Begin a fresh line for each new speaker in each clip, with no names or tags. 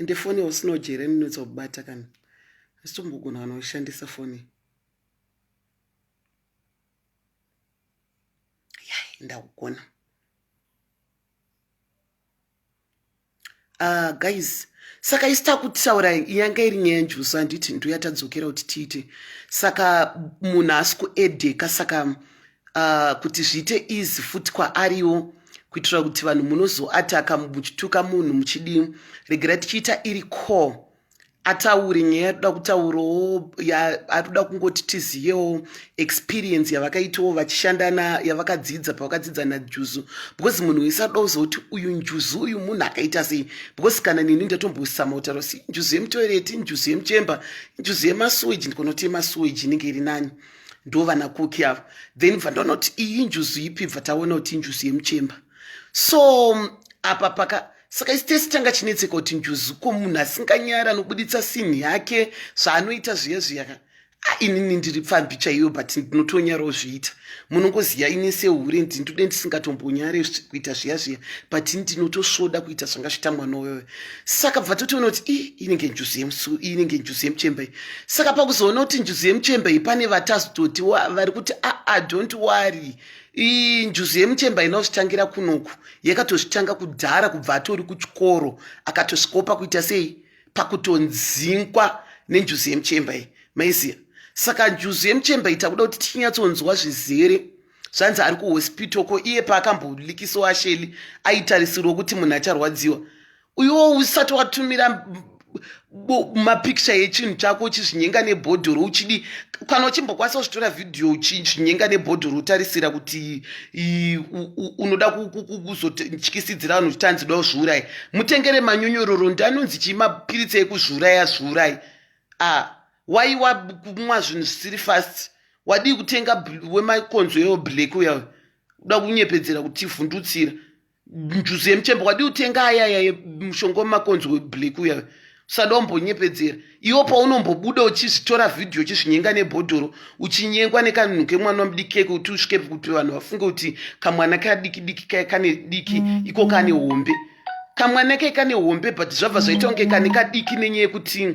ende foni usina ujere ninoitsa kubata kana asitombogona kana ushandisa foni yai ndakugona yeah, Ah, guys saka isi takutaura yanga iri nyaya njuso handiti nduya tadzokera kuti tiite saka munhu asi kuedeka saka uh, kuti zviite easy futi kwaariwo kuitira kuti vanhu munozoataka muchituka munhu muchidii regera tichiita iri core ataure nyaya yatoda kutaurawo atoda kungoti tiziyewo experience yavakaitawo vachishanda na yavakadzidza pavakadzidza najuzu because munhu wese atoda kuzoti uyu njuzu uyu munhu akaita sei because kana neni ndatombosama kutaura si njuzu yemutoireti njuzu yemuchemba njuzu yemasuweji ndikonoti yemasuweji inenge iri nani ndo vana koki avo then bva ndonoti iyi njuzu ipi bva taona kuti injuzu yemuchemba so apa paka saka isi tese tanga chinetseka kuti njuzu ko munhu asinganyara anobuditsa sinhi yake zvaanoita zviya zviyaka ainini ndiri pfambi chaiyo but ndinotonyarawo zviita munongoziva ini sehure ndindude ndisingatombonyare kuita zviya zviya but ini ndinotosvoda kuita zvanga zviita mwana uyoyo saka bva totoona kuti i inenge njuzu yemusu inenge njuzu yemuchemba iyi saka pakuzoona kuti njuzu yemuchemba iyi pane vatazototi vari kuti aa ah, ah, don't worry ii njuzu yemuchemba inozvitangira kunoku yakatozvitanga kudhara kubva atori kuchikoro akatosvikopa kuita sei pakutonzingwa nenjuzu yemuchemba iyi maiziva saka njuzu yemuchemba iyi takuda kuti tichinyatsonzwa zvizere zvanzi ari kuhospital ko iye paakambolikisiwa asheli aitarisirwa kuti munhu acharwadziwa uyuwo usati watumira mapikicha yechinhu chako uchizvinyenga nebhodhoro uchidi kana uchimbokwanisa kuzvitora vhidhiyo uchizvinyenga nebhodhoro utarisira kuti unoda kuzotyisidzira vanhu kuti tanzi da zviurayi mutengere manyonyororo ndi anonzi chii mapiritsi ekuzviuraya zviurayi a ah, wai wakumwa zvinhu zvisiri fast wadii kutenga wemakonzo ewo black uya uda kunyepedzera kuti ivhundutsira njuzu yemuchembe wadi utenga ayaya mushonga wemakonzi weblack uya usada umbonyepedzera iwo paunombobuda uchizvitora vhidhiyo uchizvinyenga nebhodhoro uchinyengwa nekanhu kemwana wamudiki kuti usvike kuti vanhu vafunge kuti kamwana kadiki diki kaye kane diki iko kane hombe kamwana kaye kane hombe but zvabva zvaita kunge kane kadiki nenyaya yekuti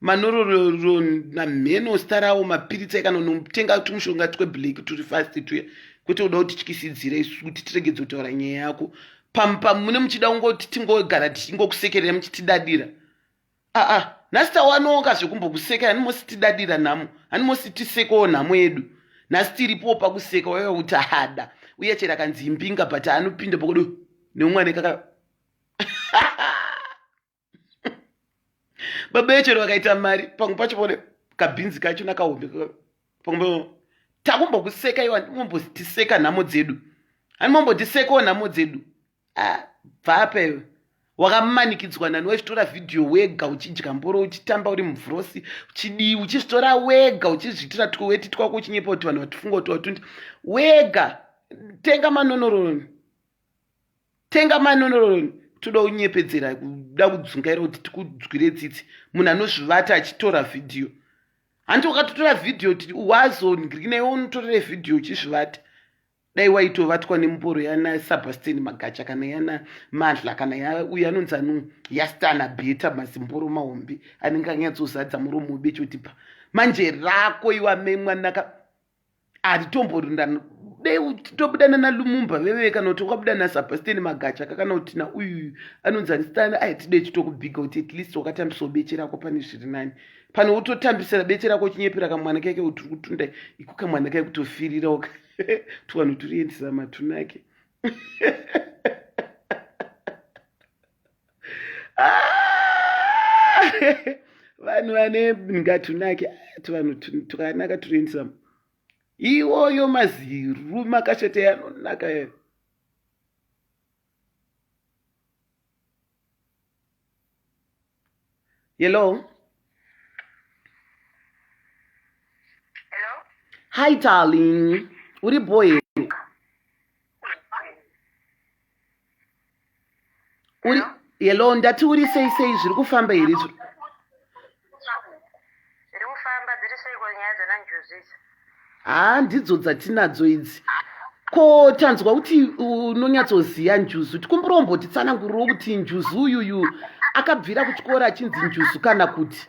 manororornamheno starawo mapiritsi ekanonotenga tumushonga tweblack turi fast tuya kwete uda kuti tyisidzire isu kuti tiregedze kutaura nyaya yako pampa mune muchida kungoti tingogara tichingokusekerera muchitidadira aa nhasi tawanoka zvekumbokusekera hani mosi tidadira nhamo hani mosi tisekewo nhamo yedu nhasi tiripo pakuseka waiva kuti hada uye chero akanzi imbinga but anopinda pokodo neumwana ikaka baba yechero vakaita mari pamwe pacho pone kabhinzi kacho nakahombe pamwe takumbokuseka iwa ndimombotiseka nhamo dzedu handimombotisekawo nhamo dzedu ah, bvaapa iwe wakamanikidzwa nani waitora vhidhiyo wega uchidya mboro uchitamba uri muvhurosi uchidii uchizvitora wega uchizviitira twoweti twako uchinyepa kuti vanhu vatifunga kuti watundi wega tenga manonoroni tenga manoroni toda kunyepedzera kuda kudzungaira kuti tikudzwire tsitsi munhu anozvivata achitora vhidhiyo hanti wakatotora vhidhiyo kuti wazonaiwo unotorere vhidhiyo uchizvivata dai waitovatwa nemuporo yana sabasteni magacha kana yana madla kana uyo anonzi ano yastana beta mazimboro mahombe anenge anyatsozadza muromo webechoti pa manje rako iwamemwanaka hatitomborindana dei tobuda nana lumumba veveve kana kuti wakabuda nasabasteni magacha ka kana kuti nauyuyu anonzi andistani aitide chitokubhiga kuti at least wakatambisawo beche rako pane zviri nani pane wototambisira beche rako uchinyepera kamwana kake kuti uri kutunda iko kamwana kake kutofirira oka tuvanhu turiendisa matunake Ah! vanhu vane ngatunake ah, tuvanhu tukanaka turi insam iwoyo maziru makashata yanonaka yayo yelo
hi
darling uri boy uri hello ndati uri sei sei zviri kufamba here izvo
haa ndidzo
dzatinadzo idzi ko tanzwa kuti unonyatsoziva njuzu tikumburombooti tsananguriro kuti njuzu uyuyu akabvira kuchikoro achinzi njuzu kana kuti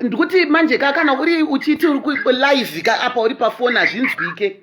ndikuti manje ka kana uri uchiti uri kulive ka apa uri pafoni hazvinzwike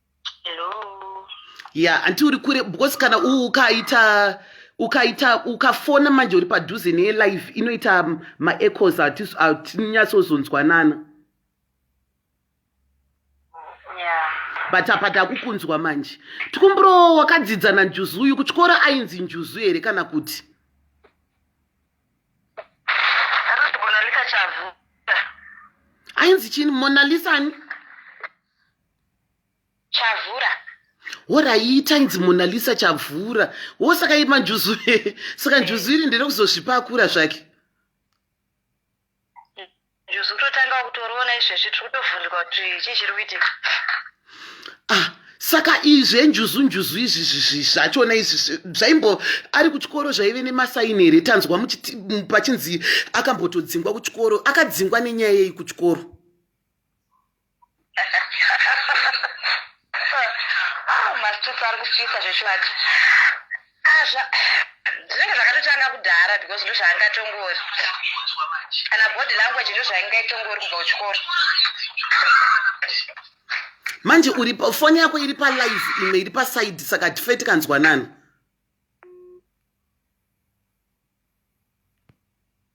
Hello. ya
hanti uri kure because kana u- ukaita ukaita ukafona manje uri padhuze nelive inoita mm, maechos hatis- hatinyatsozonzwanana Yeah.
but apa
takukunzwa manje tikumburo wakadzidza nanjuzu uyu kuchikora ainzi njuzu here kana kuti
Anonzi Monalisa Chavu.
ainzi chini monalisa ani
chavhura horaita
inzi monalisa chavhura wo saka ima njuzu saka njuzu iri ndere kuzozvipa akura zvake
njuzu kutotanga kutoroona izvezvi tiri kutovhunduka kuti chii chiri kuitika ah
saka izvi enjuzu njuzu izvi zvachona izvi zvaimbo ari kuchikoro zvaive nemasaini here tanzwa pachinzi akambotodzingwa kuchikoro akadzingwa nenyaya yei kuchikoro
oh, mastreets ari kupisa zvechokwadi azva zvinenge zvakatotanga kudhara because ndo zvaanga tongori kana body language ndo zvainga itongori kubva kuchikoro
manje uri foni yako iri palive imwe iri pasaidi saka tife tikanzwanana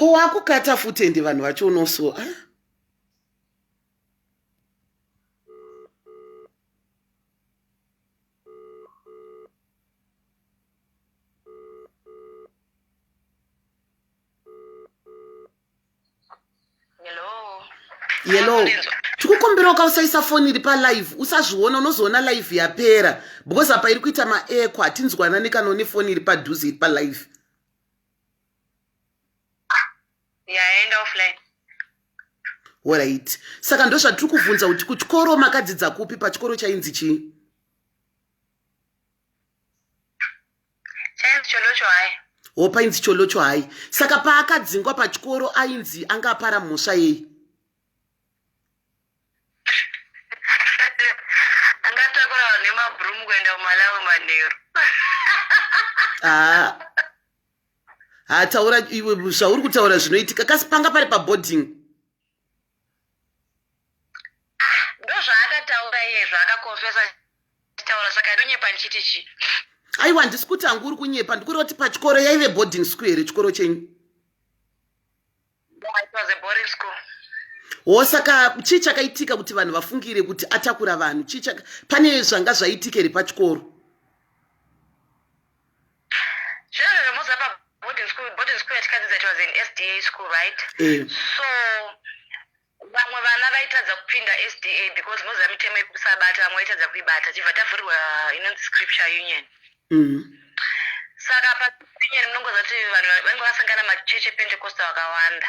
ko wakukata futi ende vanhu vacho unoso ah? yellow tikukumbirawo ka usaisa foni iri palive usazviona unozoona live yapera because apa iri kuita maeko hatinzwanani kana une foni iri padhuze iri palive yaenda
offline
orit saka ndozvatiri kuvhunza kuti kuchikoro makadzidza kupi pachikoro chainzi chii
wo painzi cholocho
hai saka paakadzingwa pachikoro ainzi anga apara mhosva yei
angatakurawo nemabhurumu kuenda kumalawi manheru haa ah.
hataura ah, iwe zvauri kutaura zvinoitika kasi panga pari paboarding
Ah, ndozvaakataura iyezvo akakonfesa achitaura saka ndonyepa ndichiti chii aiwa handisi
kuti hangu uri kunyepa ndikuri kuti pachikoro yaive boarding school here chikoro chenyu
wo saka
chii chakaitika kuti vanhu vafungire kuti atakura vanhu chii pane zvanga zvaitika here pachikoro
Children vemudza pa boarding school, boarding school yatikadzidzira it was an SDA school, right? Eh. So vamwe vana vaitadza kupinda SDA because moziva mitemo yekusabata vamwe vaitadza kuibata tibva tavhurirwa inonzi scripture union. Mm. Saka pa union munongoziva kuti vanhu vanenge vasangana machechi ePentecostal akawanda.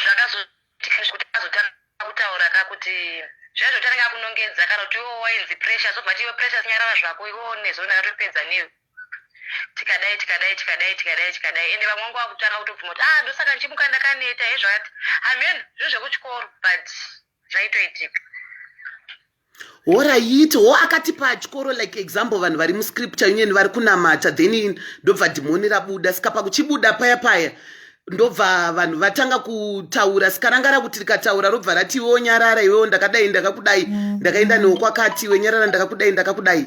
zvakazoitika zvekuti akazotanga kutaura ka kuti zviya zvekutanga akunongedza kana kuti iwo wainzi pressure zobva tiwe pressure sinyarara zvako iwo nezo ndakatopedza newe tikadai tikadai tikadai tikadai tikadai ende vamwe wangu wakutanga kutobvuma kuti ah ndosaka ndichimuka ndakaneta hezvakati hameno zvinhu zvekuchikoro but zvaitoitika
horaiti ho akati pachikoro like example vanhu vari muscripture union vari kunamata then ndobva dhimoni rabuda saka pakuchibuda paya paya ndobva vanhu vatanga kutaura sikarangara kuti rikataura robva rati iwewo nyarara iwewo ndakadai ndakakudai mm. ndakaenda newo kwakati iwe nyarara ndakakudai ndakakudai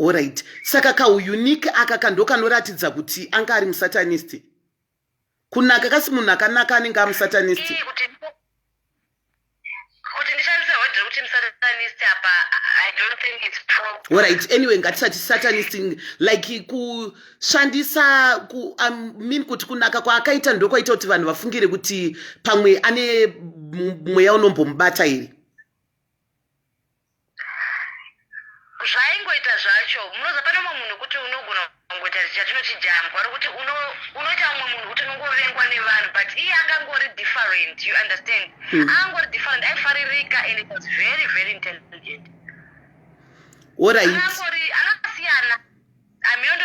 Alright. Saka ka unique aka kando kanoratidza kuti anga ari musatanist. Kunaka kasi munhu akanaka anenge ari musatanist.
Alright, anyway ngatisati
satanist like kushandisa ku I um, mean kuti kunaka kwaakaita ndokwaita kuti vanhu vafungire kuti pamwe ane mweya unombomubata here.
zvaingoita zvacho munoza pane umwe munhu kuti unogona kungoita chatinoti jambwa rokuti unoita umwe munhu kuti unongovengwa nevanhu but iye angangori different you understand mm. angori different aifaririka and it was very very intelligent
orit
akasiyana amiondo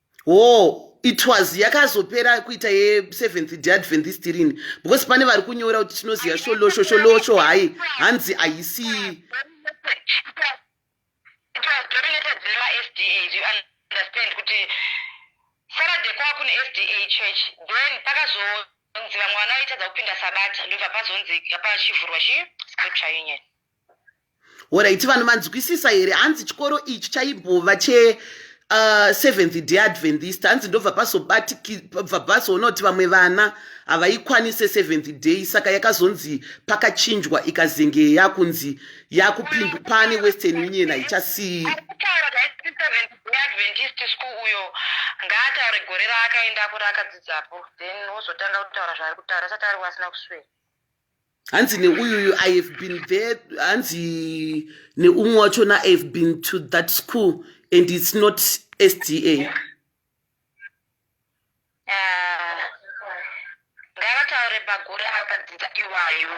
wo it was yakazopera kuita yeseventh day adventist rini because pane vari kunyora kuti tinoziva sholosho sholosho hayi hanzi haisi
saturday kwava kune sda church then pakazonzi vamwe vana vaitadza kupinda sabata ndobva pazonzi pachivhurwa chi scripture union
Horaiti vanhu manzwisisa here hanzi chikoro ichi chaimbova che uh, seventh day adventist hanzi ndobva pazobatikibva pazoona kuti vamwe vana havaikwanise seventh day saka yakazonzi pakachinjwa ikazenge yakunzi yakupindu pane western union haichasii
ngaataure gore raakaenda kuri akadzidzapo then wozotanga kutaura zvaari kutaura asati ari wasina kuswera hanzi
neuyuyu i have been there hanzi neumwe wachona i have been to that school and it's not sda
ah, ngavataure magore akadzidza iwayo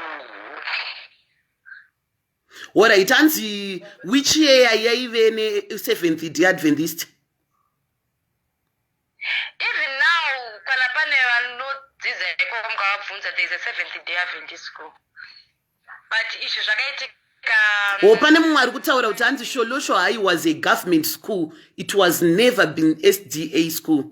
Alright, hanzi which year yaive ne seventh day Adventist? Even
now kana pane vanodzidza iko mukavabvunza there is a seventh day Adventist school. But izvi zvakaitika um, Or pane mumwe ari kutaura
kuti hanzi Sholosho High was a government school. It was never been SDA school.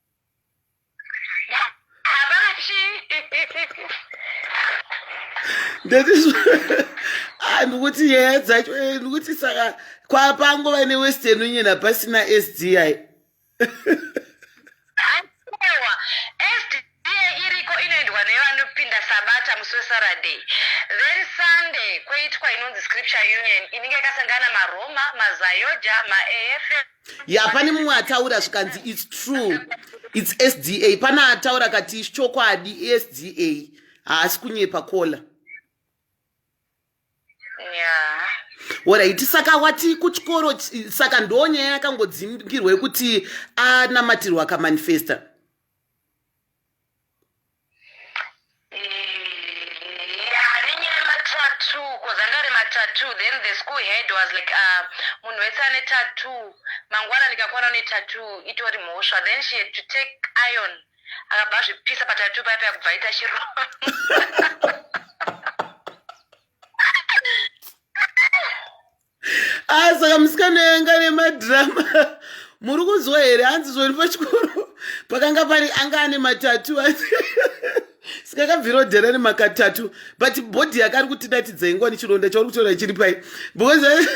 Ah, ndikuti nyaya dzacho eh, ndikuti saka kwapangova newestern union hapasina sdi
saturday then sunday kweitwa inonzi scripture union inenge yakasangana maroma mazayoja maafm ya pane mumwe
ataura zvikanzi its true its sda pane ataura kati chokwadi esda haasi kunyepa kola
yeah. orit
saka wati kuchikoro saka ndo nyaya yakangodzimbirwa yekuti anamatirwa akamanifesta
tattoo then the school head was like uh, munhu wese ane tattoo mangwana ndikakwana une tattoo itori mhosva then she had to take iron akabva azvipisa patattoo paya paya kubva ita chironda
Ah, saka musikana yanga nemadhirama muri kunzwa here hanzi zvori pachikoro pakanga pari anga ane matatu saka kabviro dhera nemakatatu but bhodhi yake ari kutidatidza ingwa nechironda chauri kutora chiri pai because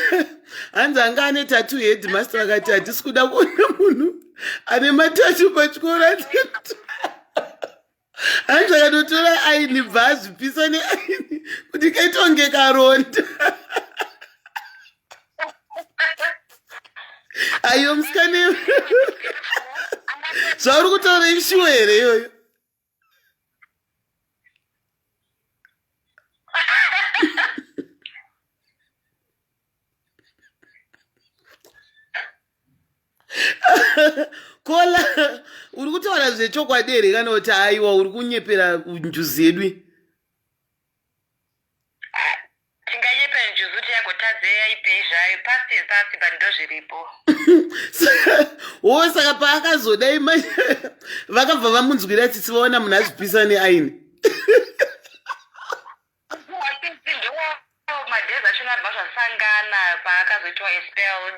hanzi anga ane tatu headmaster vakati hatisi kuda kuona munhu ane matatu pachikoro hanzi akatotora aini bva azvipisa neaini kuti kaitonge karonda ayo musikane zvauri kutaura ishuwa here iyoyo kola uri kutaura zvechokwadi here kana kuti aiwa uri kunyepera njuzi yedu
tinganyepera njuzi kuti yagotadze yaipei zvayo past is past but ndozviripo
wo saka paakazodai mai vakabva vamunzwira tsitsi vaona munhu azvipisa neaini
madhezi achona abva zvasangana paakazoitwa espelled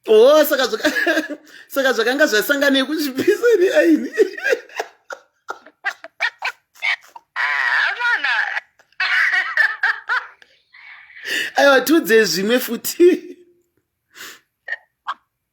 oh
saka zvakanga zvasangana yekuzvipisa ri aini aiwa tiudze zvimwe futi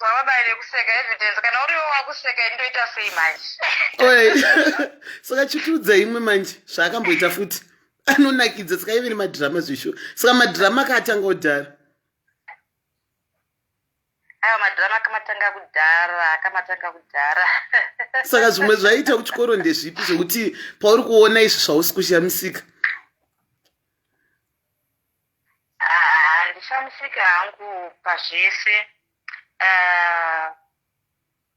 vabaire kuseka evidence kana uriwo wakuseka indoita sei manje
saka chitiudza imwe manje zvaakamboita futi anonakidza saka ive nemadhirama zvisho saka madhirama akaatanga kudhara
aiwa madhirama akamatanga kudhara akamatanga kudhara saka
zvimwe zvaiita kuchikoro ndezvipi zvekuti pauri kuona izvi zvausi kushamisika
handishamisike hangu pazvese uh,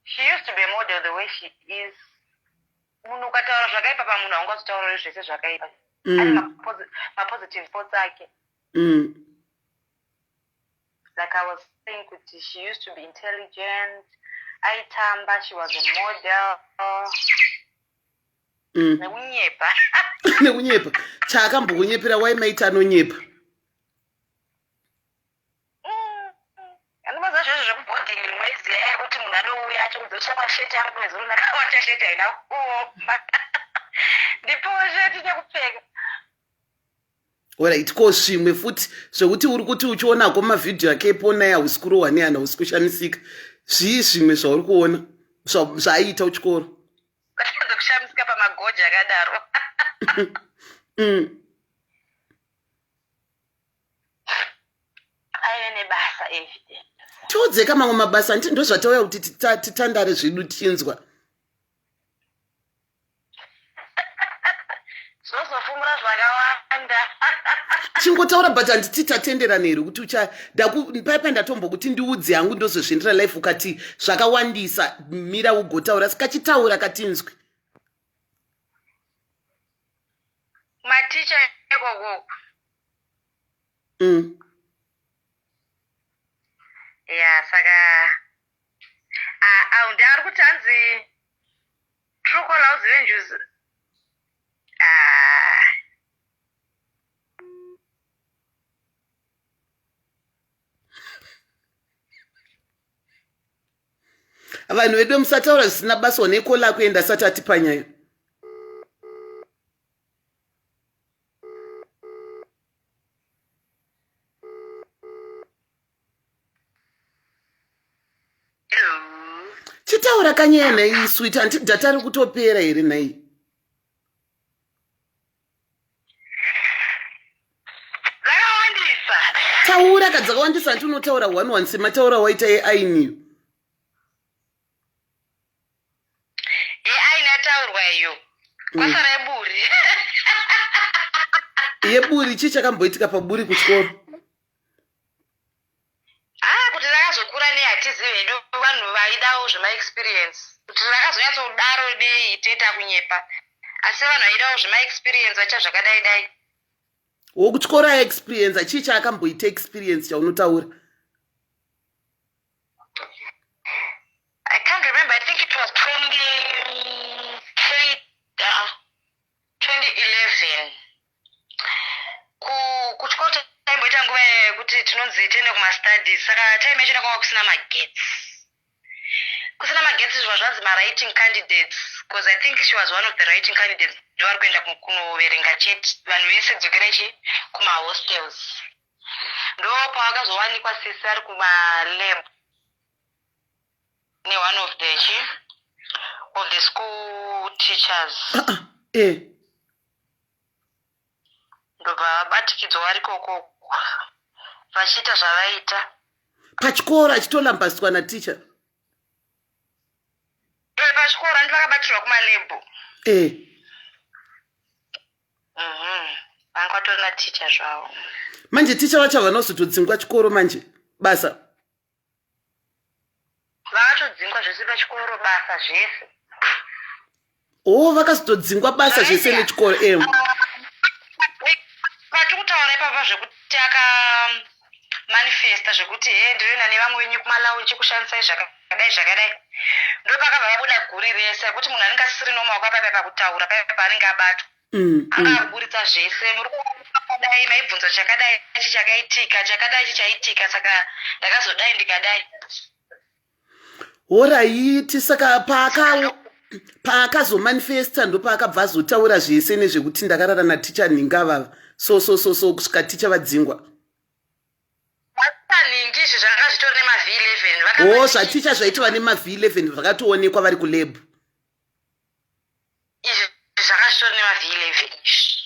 she used to be a model the way she is munhu ukataura zvakaipa pamunhu haungazvitauriri zvese zvakaipa mm. ane mapositive thoughts ake mm. like i was saying kuti she used to be intelligent aitamba she was a model Mm. nekunyepa
nekunyepa chaakambokunyepera
wai
maita anonyepa
anomaza zvezvo zvekubhodhi mwedzi yaya kuti munhu anouya achikudzosha masheti ari mwedzi uno akawacha sheti haina kuoma ndipowo sheti nekupfeka orit
ko zvimwe futi zvekuti uri kuti uchionako mavhidhiyo ake eponai hausi kurohwa neana hausi kushamisika zvii zvimwe zvauri kuona zvaiita uchikoro Vachitadza
kushamisika pamagoji akadaro. Mm. Aive nebasa evident. Tiudzeka mamwe
mabasa hanti ndozvatauya kuti tita- titandare zvedu tinzwa.
Tozofumura zvakawanda.
chingotaura but handiti tatenderana here kuti ucha ndaku- paipa ndatombokuti ndiudze hangu ndozozviendera life ukati zvakawandisa mira ugotaura sikachitaura katinzwi
Maticha ikoko. mm. Yeah, saka ah ah ndari kuti hanzi
True caller uzive njuzu. Ah. vanhu vedu musataura zvisina basa one kola kuenda asati atipa nyaya chitaura kanyaya nhai swit hanti data ri kutopera here nhai
taura
ka dzakawandisa hanti unotaura one one semataura waita yeainiyo yeaini
yataurwa iyo mm. kwasara yeburi
yeburi chii chakamboitika paburi kuchikoro
haa kuti rakazokura nei hatizivi hedu vanhu vaidawo zvemaexperience kuti rakazonyatsodaro nei teta kunyepa asi vanhu vaidawo zvemaexperience vacha zvakadai dai
wokutyora experience chii chaakamboita experience chaunotaura
i can't remember i think it was 2011 Ku- kuchikoro ta- taimboita nguva yekuti tinonzi tiende kumastudies saka time yacho kwanga kusina magetsi kusina magetsi zvimwe zvanzi mawriting candidates bcause i think she was one of the writing candidates ndovari kuenda ku- kunoverenga chete vanhu vese dzokera chi kumahostels ndo paakazowanikwa sisi ari kumalab ne one of the chi of the school teachers ah, ah, eh. ndobva vabatikidzwa vari koko vachiita zvavaita pachikoro
achitolambaswa na teacher
e pachikoro andi vakabatirwa kumalebhu e eh. mhm. vanga kwatori na teacher zvavo manje teacher
vacho havanozotodzingwa chikoro manje basa
vakatodzingwa zvese pachikoro basa zvese oh
vakazotodzingwa basa zvese nechikoro em
pati kutaura ipapa zvekuti aka manifesta zvekuti he ndinoenda nevamwe venyu kumalaunji kushandisai zvakadai zvakadai ndopakabva vabuda guri rese rekuti munhu anenge asisiri nomaoko apaipa pakutaura paipa anenge abatwa mm, anga mm. aburitsa zvese muri kuakadai maibvunza chakadai chi chakaitika chakadai chi chaitika saka ndakazodai ndikadai
horaiti saka paaka paakazomanifesta ndopaakabva azotaura zvese nezvekuti ndakarara naticha nhinga vava so so so so kusvika ticha vadzingwa
o zvaticha zvaitova
nemavhi 11 zvakatoonekwa vari kulebhu
izvi zvakasvitwa nemavhilevhe izvi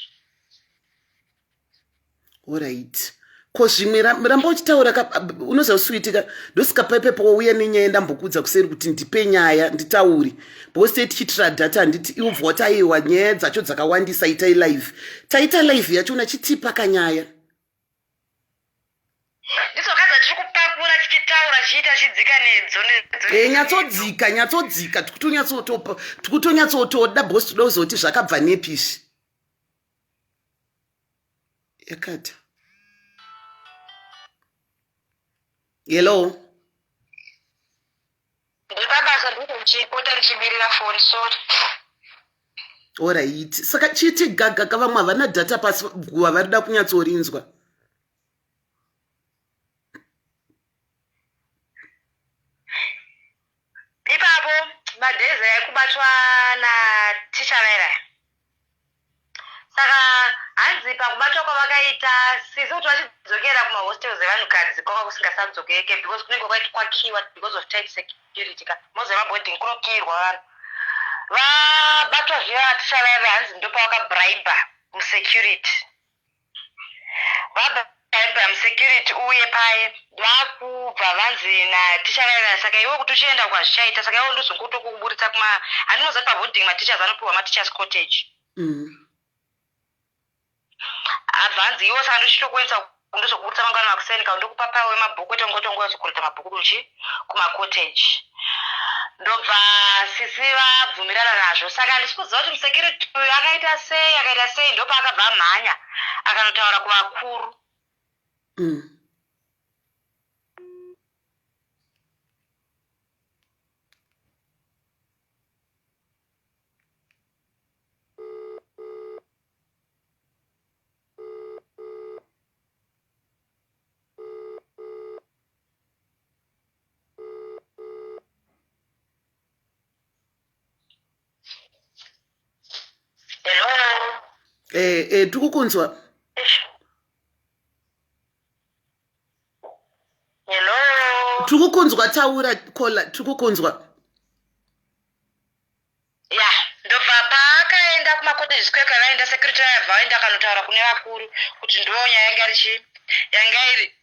orit ko zvimwe ramba uchitaura unoziva kusuitika ndosikapaipepo wauya nenyaya ndambokuudza kuseri kuti ndipe nyaya nditauri because tei tichitira data handiti iubva wati aiwa nyaya dzacho dzakawandisa itai live taita live yacho unachitipa kanyaya
nditsoka dzatiri kupakura tichitaura chiita chidzika nedzo eh, nyatsodzika nyatsodzika
tikutonyatsotoda bos toda kuzoti zvakabva nepi izvi yakata hello
ndepabasa ndinenge ndichipota ndichimirira foni so
orit saka chiti gaga ka vamwe havana data pasi guva vari da kunyatsorinzwa
ipapo madhezi ekubatwa naticha vairaya saka hanzi pakubatwa kwavakaita sisi kuti vachidzokera kumahostels evanhukadzi kwava kusingasadzokeke because kunenge kwakiwa because of tight security ka moziva maboarding kunokiirwa vanhu vabatwa zviya vatisha vaive hanzi ndopavakabriber musecurity vabva Abraham security uye paye vakubva vanzi naticharayira saka iwe kuti uchienda kwazvichaita saka iwe ndozongoto kukuburitsa kuma handinoziva kuti pavooding mateachers anopiwa mateachers cottage mm. abva anzi iwe saka ndochitokuendesa ndozokuburitsa mangwana makuseni ka ndokupa pawe mabhuku ete ngotongoya zokuridza mabhuku kuchii kumacottage ndobva sisi vabvumirana nazvo saka handisi kuziva kuti musecurity uyu akaita sei akaita sei ndopaakabva amhanya akanotaura kuvakuru mm.
eh, eh, tiri kukunzwa
tiri kukunzwa
taura kola tiri kukunzwa
ya ndobva paakaenda kumacottages kuya kwavaienda security vaya bva vaenda akanotaura kune vakuru kuti ndo nyaya yanga iri chii yanga iri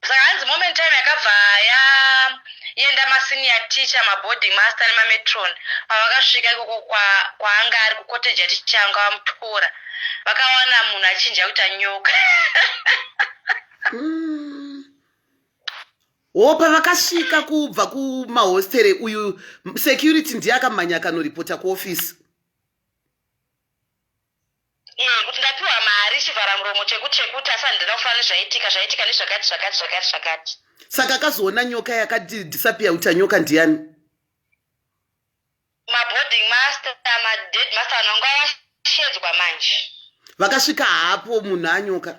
saka hanzi moment time yakabva yaenda masenior teacher maboarding master nemametron pavakasvika ikoko kwaanga ari kucottage yaticha anga vamutora vakawana munhu achinja kuita nyoka mm.
Wo pavakasvika kubva kumahostere uyu security ndiye akamhanya akanoripota kuofisi.
Eh, kuti ndapiwa mari chivhara muromo chekuti chekuti asi handina kufanira nezvaitika zvaitika nezvakati zvakati zvakati zvakati. Saka
akazoona nyoka yakati disappear kuti anyoka ndiyani?
Maboarding master, madead master vanonga vashedzwa manje. Vakasvika
hapo munhu anyoka.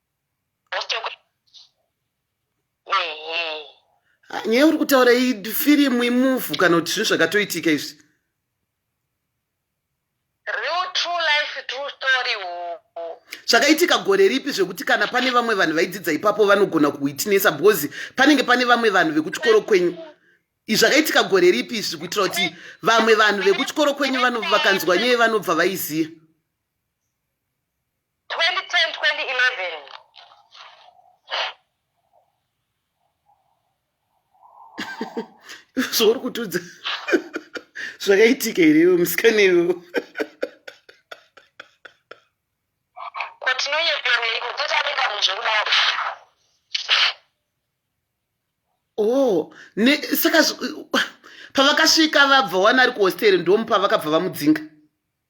Ah, nyaya uri kutaura ifirimu imuvu kana kuti zvinhu zvakatoitika izvi zvakaitika gore ripi zvekuti kana pane vamwe vanhu vaidzidza ipapo vanogona kuitinesa because panenge pane vamwe vanhu vekuchikoro kwenyu zvakaitika gore ripi izvi kuitira kuti vamwe vanhu vekuchikoro kwenyu vakanzwa nyaya vanobva vaiziva 2010 2011 zvauri kutudza zvakaitika here iwe musikana iwe kotinonyepereiko totaringa munhu zvekudaro o oh, saka pavakasvika vabva wana ari kuhosteri ndomu pavakabva vamudzinga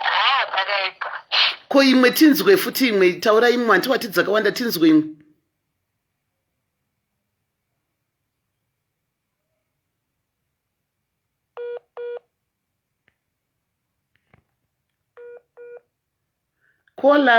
Ah, pakaipa. ko imwe tinzwe futi imwe taura imwe hanti wati dzakawanda tinzwe imwe kola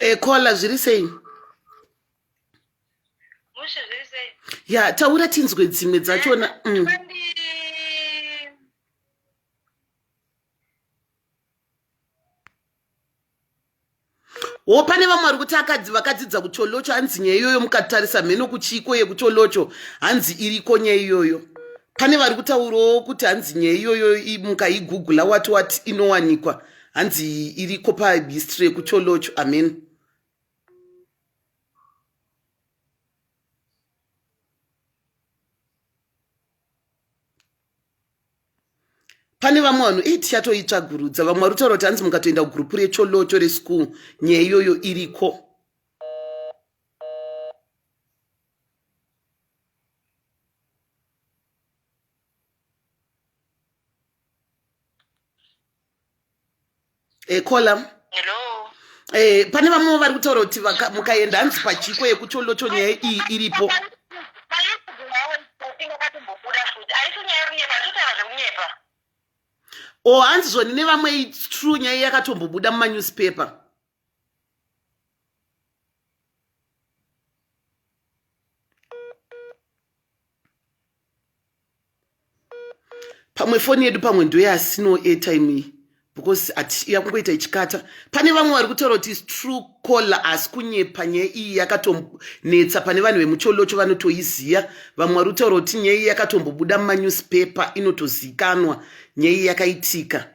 ekola eh, zviri sei
ya taura
tinzwe dzimwe dzachona eh, mm. wo pane vamwe vari kuti akadzi vakadzidza kucholocho hanzi nyaya iyoyo mukatarisa mheno kuchiiko yekucholocho hanzi iriko nyaya iyoyo pane vari kutaurawo kuti hanzi nyaya iyoyo mukaigugula wati wati inowanikwa hanzi iriko pahistory yekucholocho amen pane vamwe vanhu ii tichatoitsvagurudza vamwe vari kutaura kuti hanzi mukatoenda kugurupu recholocho reschool nyaya iyoyo iriko e column hello
eh pane
vamwe vari kutaura kuti mukaenda hanzi pachiko yekuti olocho nyaya iyi iripo o oh, hanzi zvoni nevamwe true nyaya yakatombobuda mumanewspaper pamwe foni yedu pamwe ndoyasino airtime iyi because yakungoita ichikata pane vamwe vari kutaura kuti is true caller asi kunyepa nyaya iyi yakatonetsa pane vanhu vemucholocho vanotoiziva vamwe vari kutaura kuti nyaya iyi yakatombobuda mumanewspaper inotozikanwa nyaya iyi yakaitika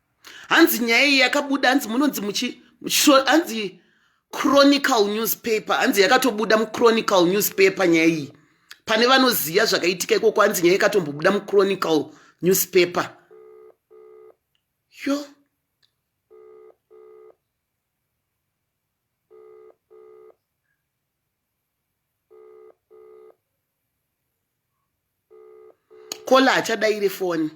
hanzi nyaya iyi yakabuda hanzi munonzi muchi hanzi chronical newspaper hanzi yakatobuda muchronical newspaper nyaya iyi pane vanoziva zvakaitika ikoko hanzi nyaya ikatombobuda muchronical newspaper yo kola achadaire foni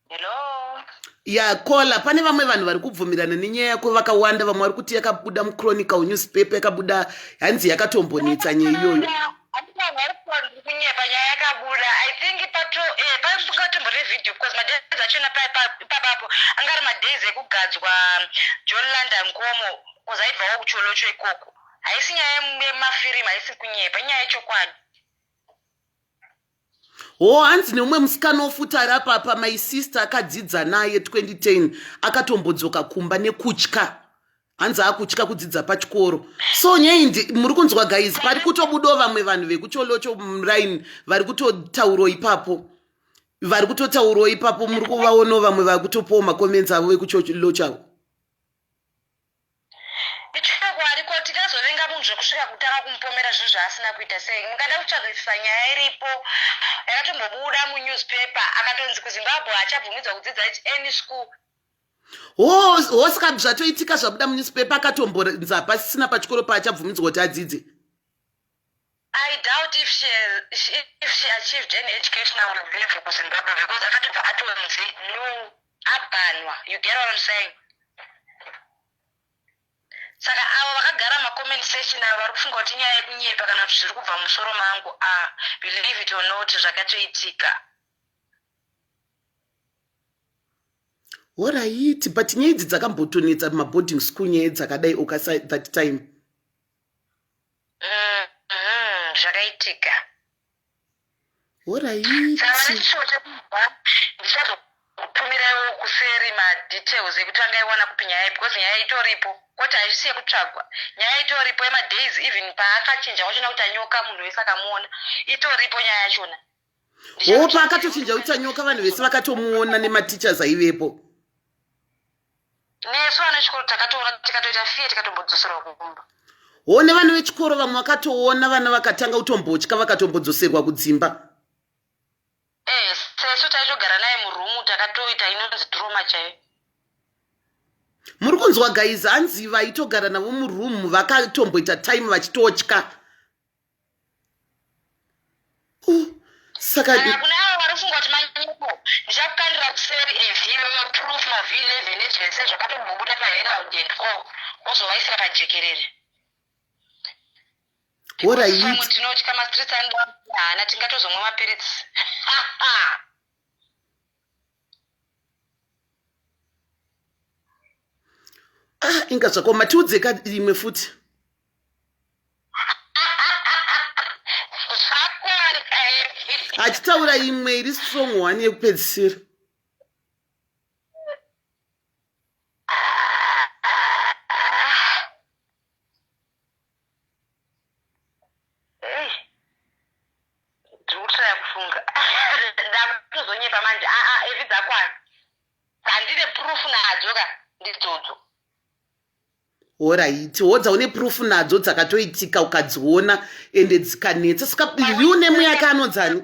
Hello. ya
kola pane vamwe vanhu vari kubvumirana nenyaya yako vakawanda vamwe vari kuti yakabuda muchronical newspaper yakabuda hanzi yakatombonetsa nyaya iyoyo Handina vanhu vari kutaura kuti kunyepa nyaya
yakabuda. I think pato eh pasingatomboda video because madays achona pa pa- ipapapo anga ari madays ekugadzwa John Landa Nkomo because aibvawo kucholocho ikoko. Haisi nyaya yem- yemafirimu haisi kunyepa inyaya yechokwadi.
hoo hanzi neumwe musikana wofuti ari apapa my sister akadzidza naye 2010 akatombodzoka kumba nekutya hanzi akutya kudzidza pachikoro so nyei muri kunzwa guys pari kutobudawo vamwe vanhu vekucholocho muraini vari kutotaurawo ipapo vari kutotaurawo ipapo muri kuvaonawo vamwe vari kutopawo makomenzi avo vekucholocho avo
Ichokwadi ko tingazovenga munhu zvekusvika kutanga kumupomera zvinhu zvaasina kuita sei? Mukada kutsvagisisa nyaya iripo yakatombobuda munewspaper akatonzi kuZimbabwe haachabvumidzwa kudzidza at any school hosika
zvatoitika zvabuda munewspaper akatombonzi hapasisina pachikoro paachabvumidzwa kuti adzidze
I doubt if she has, if she achieved any educational level kuZimbabwe because akatobva atonzi no abhanwa. You get what I'm saying? Saka avo vakagara macomment section avo vari kufunga kuti nyaya yekunyepa kana kuti zviri kubva musoro mangu a ah, believe it or not zvakatoitika.
Horaiti, but nyaya idzi dzakambotonetsa maboarding school nyaya dzakadai okasa that time.
Mm-hmm, zvakaitika ndichazokutumirawo kuseri madetails ekuti angaiwana kupi nyaya iyi because nyaya itoripo kwoti haisi yekutsvagwa nyaya itoripo yemadays even paakachinja wachona kuti anyoka munhu wese akamuona itoripo nyaya yachona hoo
paakatochinja kuita nyoka vanhu vese vakatomuona nematichers aivepo
nesu vana vechikoro takatoona tikatoita fiye tikatombodzoserwa kumba hoo nevana
vechikoro vamwe vakatoona vana vakatanga kutombotya vakatombodzoserwa kudzimba ee
eh, sesu taitogara naye murumu takatoita inonzi droma chaiyo
muri kunzwa gaizi hanzi vaitogara navo muroom vakatomboita time vachitotya
saka kana kune avo vari kufunga kuti manyepo ndichakukandira kuseri evhilo yoproof mavhii nevhene zvese zvakatombobuda paherald and co wozovaisira pajekerere what are you pamwe tinotya mastreets anoda haana tingatozomwa mapiritsi
ah inga zvako matiudze ka imwe futi achitaura imwe iri strong one yekupedzisira
ndikutraya kufunga ndakutozonyepa manje aa ah, ah, evi dzakwana dzandine proof nadzo ka ndidzodzo
horaiti wodza une proof nadzo dzakatoitika ukadziona ende dzikanetsa saka ivi une mweya yake anonzani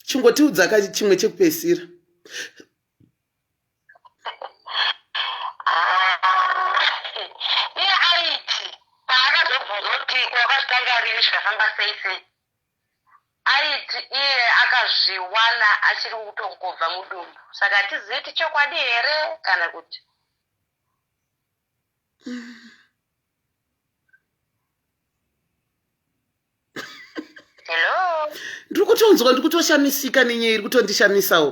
chingotiudza ka chimwe chekupesira
iye aiti paakazobvunzwa kuti kwakazvitanga rini zvikafamba sei sei aiti iye akazviwana achiri kutongobva mudumbu saka hatizivi kuti chokwadi here kana kuti hello ndiri kutonzwa ndiri
kutoshamisika nenyaya iri kutondishamisawo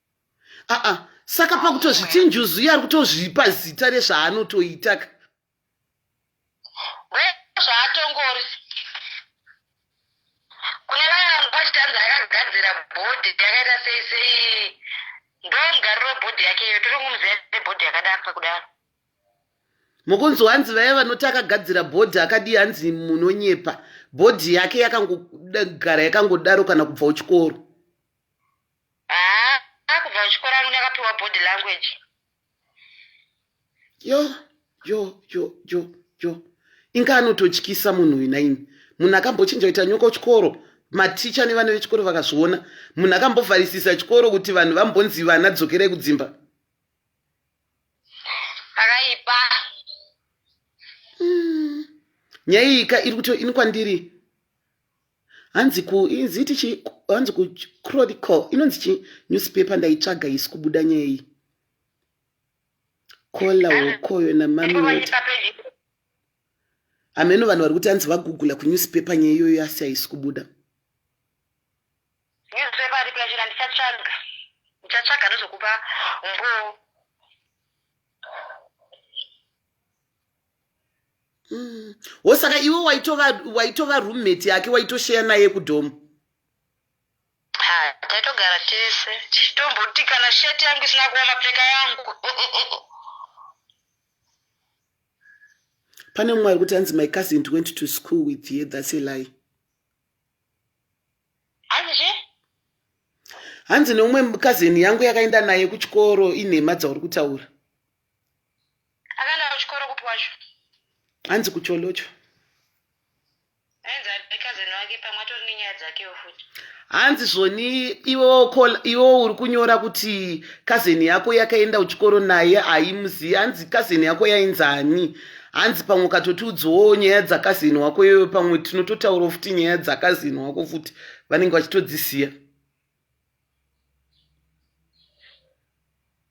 aa saka pakutozviti njuzu iye ari kutozvipa zita rezvaanotoita ka
zvaatongori kune vaya vari kwachitanzi akagadzira bhodhi yakaita sei sei ndo mugariro webhodhi yake iyo tiri kumuziva nebhodhi yakadaro pakudaro
mukunzi wanzi vaya vanoti akagadzira bhodhi akadii hanzi munonyepa bhodhi yake yakangogara yakangodaro kana kubva uchikoro
haa kubva kuchikoro angu ndakapiwa body
language yo yo yo yo yo inga anototyisa munhu uyu naini munhu akambochinja kuita nyoka kuchikoro maticha nevana vechikoro vakazviona munhu akambovharisisa chikoro kuti vanhu vambonzi vana dzokerai kudzimba
akaipa
mm. nyaya iyika iri kuto ini kwandiri hanzi ku inzi iti chi hanzi ku chronicle inonzi chi newspaper ndaitsvaga isi kubuda nyaya iyi kola wokoyo namami hameno vanhu vari kuti hanzi vagugula kunewspaper nyaya iyoyo asi haisi kubuda newspaper
ripi yachira ndichatsvaga ndichatsvaga ndozokupa mboo
Mm. Wo saka iwe waitova waitova roommate yake waitosheya naye kudhomu. Ha,
taitogara tese tichitomboti kana shirt yangu isina kuva mapfeka yangu.
Pane mumwe ari kuti hanzi my cousin went to school with ye that's a lie. Hanzi hanzi neumwe cousin yangu yakaenda naye kuchikoro inhema dzauri kutaura.
Akaenda kuchikoro kupi wacho? hanzi
kucholocho Ainzi
ari cousin wake pamwe atori nenyaya dzakewo futi. hanzi zvoni
iwewo call- iwewo uri kunyora kuti kazeni yako yakaenda kuchikoro naye haimuzivi hanzi kazeni yako yainzi ani hanzi pamwe ukatotiudzawo nyaya dzakazeni wako iyoyo pamwe tinototaurawo futi nyaya dzakazeni wako futi vanenge vachitodzisiya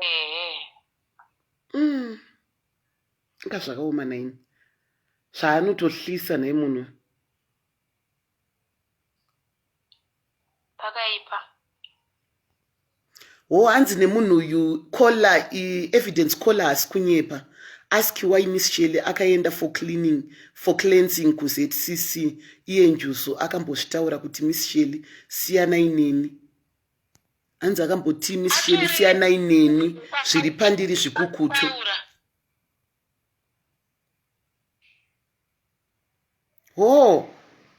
ehe mm. nga zvakaoma naini zvaanotohlisa nhai munhu
pakaipa
wo hanzi nemunhu uyu colla evidence colla hasi kunyepa ask why miss shele akaenda for cleaning for cleansing kuzcc iye njuzu akambozvitaura kuti miss shele siyanai neni hanzi akambotii miss sheli siyanai neni zviri pandiri zvikukutu hoo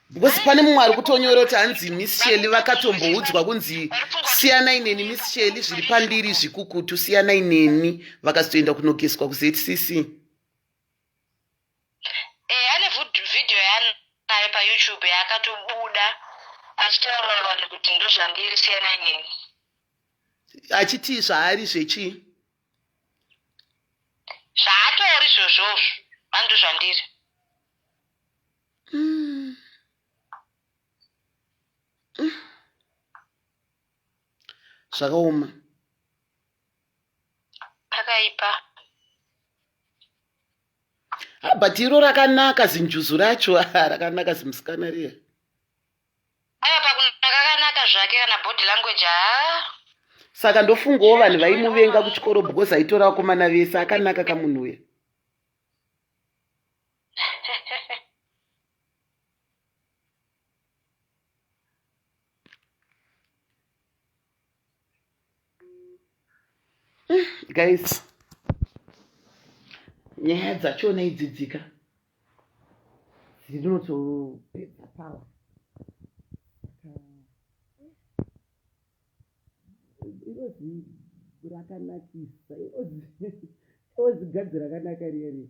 because pane mumwe ari kutonyora kuti hanzi miss sheli vakatomboudzwa kunzi siyanai neni miss sheli zviri pandiri zvikukutu siyanai neni vakazotoenda kunogeswa kuzetcc
Eh, ane vhud- video yaanayo payoutube yaakatobuda achitaurira vanhu kuti ndozvandiri siyanai neni
achiti zvaari zvechii
zvaatori zvozvozvo andozvandiri
zvakaoma
pakaipa
ha but iro rakanaka zinjuzu racho rakanaka zimusikana riya
aya pakunaka kakanaka zvake kana body language haa
saka ndofungawo vanhu vaimuvenga kuchikoro because aitora vakomana vese akanaka kamunhu uya guys nyaya dzachona idzidzika dzinotopedza power irozi rakanakisa irozi gadzi rakanaka riya riya